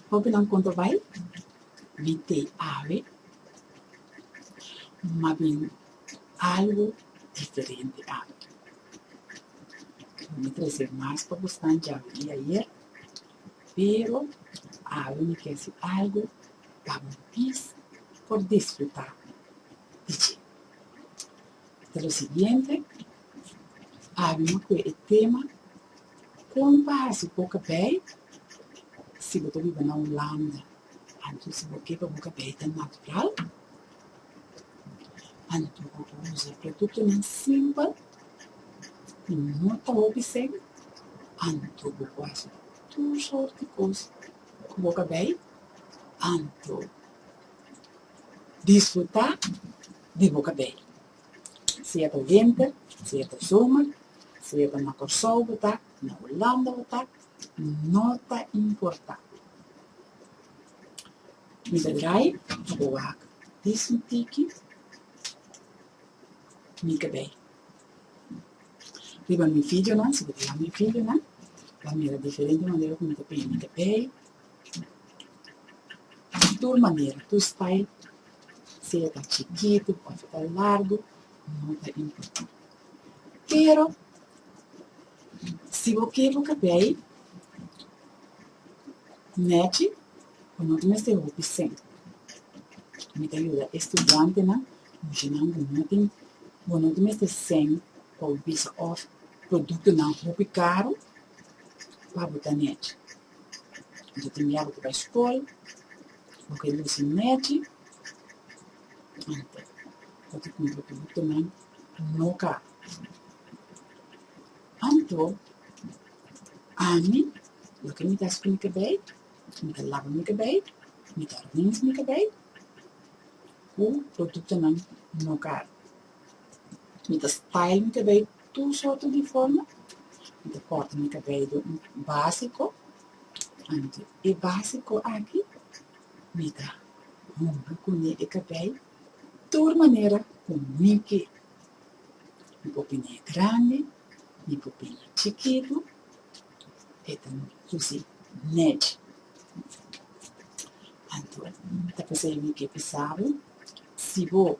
Hopi nan konta bai, mi te awe, ma bin algu diferente awe. Mi trese mas pa bo snan djawe di ayer, pero awe mi ke hasi algu pa bo pis por disfruta di dje. Ta lo siguiente, Abi mo kue e tema Kon pa hasi boka bay si bo ta biba na Hulanda. Anto bo ke pa boka bay ta natural, anto bo por usa produktonan simpel ku no ta hopi seng, anto bo por hasi tur sort di kos ku boka bay, anto disfruta. di bo kabel. Sea ta wenter, sea ta zomer, sea ta na Kòrsou bo ta, na Hulanda bo ta, no ta importá. Mi ta drai pa bo wak dis un tiki mi kabel. Riba mi fidjonan, si bo ta yama mi fidjonan, ta mira diferente manera ku mi ta pini mi kabel. Tur manera, tur style, sea ta chikitu òf ta largu, no ta importá. Pero, si bo ker bo kabei nèchi, bo no ta mester hopi sen. Mi ta yuda e studiantenan, muchanan bo no tin, bo no ta mester sen pa bo bisa òf produktonan hopi karu pa bo ta nèchi. Yo tin miedu ku bai skol, lo ke lus a nèchi, ante ku ta kumpli piditunan no ka. Anto, ami, lo ke mi ta hasi ku mi kabei, mi ta laba mi kabei, mi ta rins mi kabei ku produktonan no ka. Mi ta style mi kabei. Tur sorto di forma di corta mi cabello basico anto e basico aki mi ta hunga cune e cabello tur manera cu mi ke mi por pina e grandi mi por pina e chikito e ta luci netty anto mi ta pasa mi ke pesado si bo.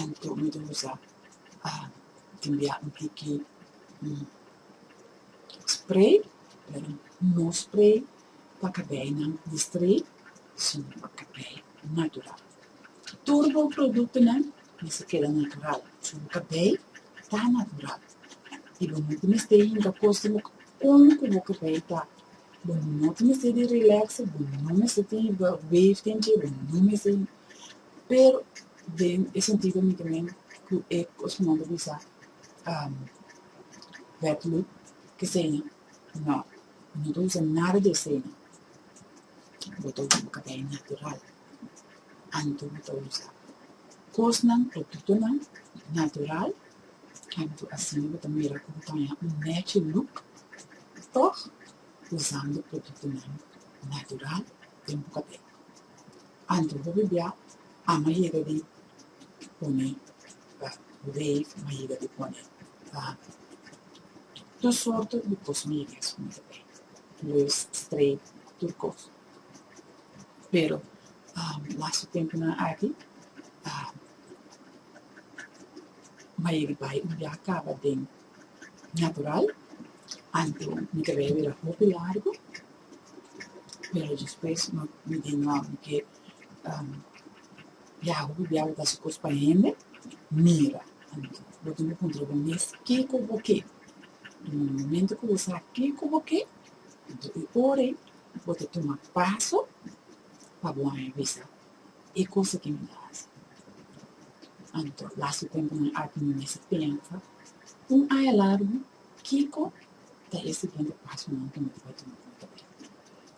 Anto Medusa a tin bia un tiki spray, pero no spray pa kabeinan di stray, sino pa kabei natural. Tur bo produktonan mester keda natural, pasobra bo kabei ta natural i bo no ta mester yega kosnan kon ku bo kabei ta. Bo no ta mester di relax, bo no mester tin wave den dje, bo no mester Pero den e sentido mi ta mean cu e cos mi a word bisa wet look ke seña, no, mi no ta usa nada di e seña, bo ta usa bo cabello natural anto bo ta usa cosnan, productonan natural, anto asina bo ta mira cu bo ta haña un natural look toch usando productonan natural den bo cabello. Anto bo bibia a ma yega di pone pa rei ma yega di pone pa tur sorto di kos mi yega skon ta bay lus straight tur kos pero lastu tempunan aki a ma yega di bay y ya kaba den natural anto mi cabello era hopi largo Pero despues no mi di nan ke um biaha ku bo biaha bo ta hasi kos pa hende mira. Anto bo tin ku puntra bo mes kiko bo ke? Den e momento ku bo sa kiko bo ke, anto e ora ei bo ta tuma paso pa bo haña bisa e kos aki mi ta hasi. Anto lastu tempunan aki mi mester pensa un aña largu Kiko ta e siguiente pasonan ku mi por tuma kon ta bini?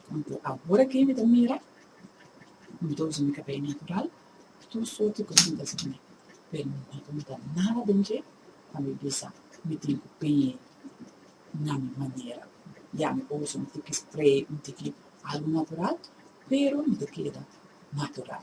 Konta awor aki mi ta mira, mi ta usa mi kabei natural, tur sorti kosin ta sali mi, pero mi no ta nota nada den dje pa mi bisa mi tin ku pei na mi manera. Ya mi por usa un tiki spray, un tiki algu natural, pero mi ta keda natural.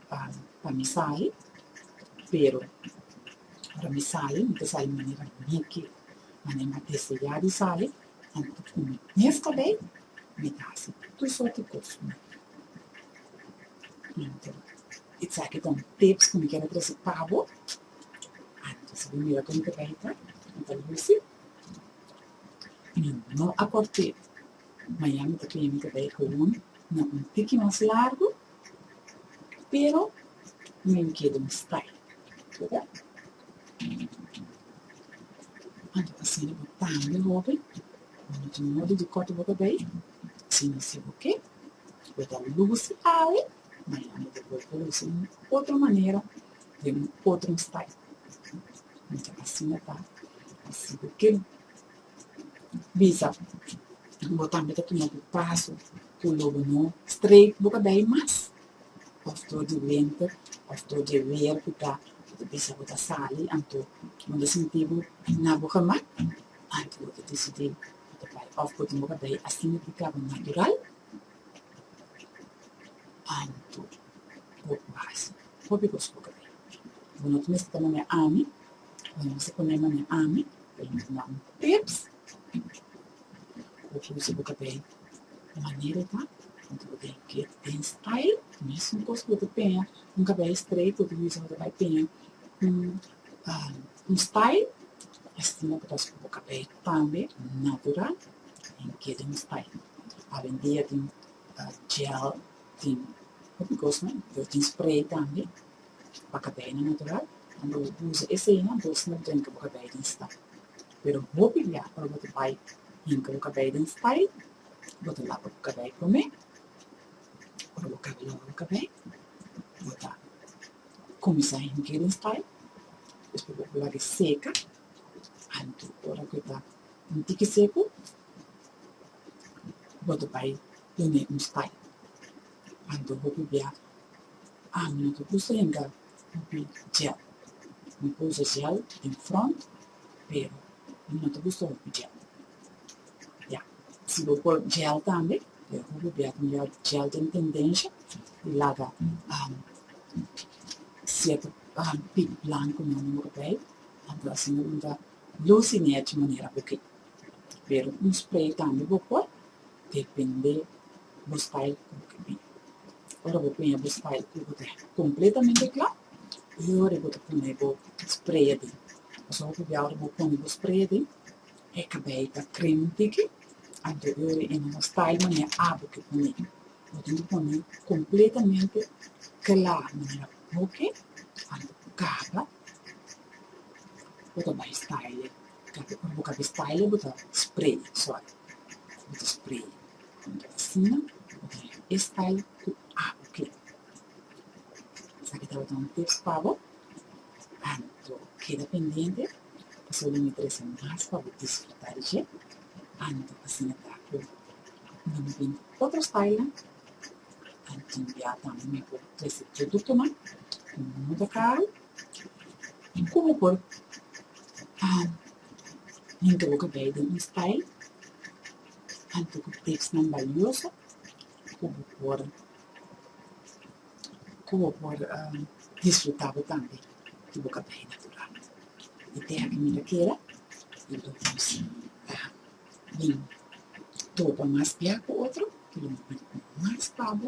pa mi sali pero ora mi sali mi ta sali manera mi kier manera mi a deseá di sali anto ku mi mes ta bay mi ta hasi tur sort di kos ku mi kier anto esaki ta un tips ku mi quiero trese pa bo anto si bo mira komo ta bay ta mi ta luci y mi no a por pe. Miami ta clinica bay Colon na un tiki mas largo pero mi mi keda un stay oca anto ta asina bo tambe hopi cuando tu modo di coto boca bay si mi si bo ke bo ta luci awe Miami ta bolbe ta luci un otro manera den un otro stay mi ta asina ta si bo ke bisa bo tambe ta tuma bo paso ku lobo no strek bo ka bai mas of dor di wente of dor di weer ku ta bisa bo ta sali anto bo ta sinti bo na bo gemak anto bo ta desidi bo ta bai of bo tin bo ka bai asina di kaba natural anto bo paso hopi kos bo ka bai bo no ta mester ta manera ami. Bueno, se pone na mi ami, permite na un tips. Cu usa bo ta bay de manera e ta, bo ta bay get in style, mesmo cos bo ta peña un cabello straight, bo ta bisa bo ta bay peña un un style, asina bo ta haci cu bo cabello tambe natural y get in style. Awendia tin gel, tin hopi cosnan, tin spray tambe. Bakabèinan natural, ando bo usa eseinan bo sna brenka bo kabèi den style. Pero hopi bia ora bo ta bai hinka bo kabèi den style, bo ta lapa bo kabèi promé, ora bo kaba laba bo kabèi bo ta kuminsá hink'é den style, despues bo lag'é seka anto ora ku e ta un tiki seku bo ta bai done un style. Anto bo por bia. Ami no ta gusta henga hopi gel. Mi por usa gel den front pero mi no ta gusta hopi gel. Ya, si bo por gel tambe pero hopi bia tin ya gel tin tendensha di laga cierto pip blanco nan den bo cabel. Anto asina bo no ta luci nea di manera bo ke. Pero un spray tambe bo por, depende bo style cu bo kibi. Ora bo pone bo style cu bo ta completamente cla, y ora bo ta pone bo spray aden. Pasobra bo pabia ora bo pone bo spray aden, e cabeyo ta creamy un tiki, anto e ora e no a style manera abo ke pone. Bo tin ki pone completamente cla manera cu bo ke, anto bo caba, bo ta bay style e. Kende ora bo ta di style bo ta spray sòrt bo ta spray asina bo ta hasi e style ku abo kere esaki tabata un tips pa bo anto keda pendiente paso lo mi trese mas pa bo disfruta di dje anto asina ta ku ora mi bini ku otro style nan anto bia tambe mi por trese produktonan ku no ta karu. Komo por henter lo ke bai den un stail henter ku teksnan balioso ku bo por ku bo por disfrutá bo tambe ku bo ka bai natural? E teha ke mi ta keda i lo yus ta bin tropa mas bia ku otro i lo bin mas pa bo.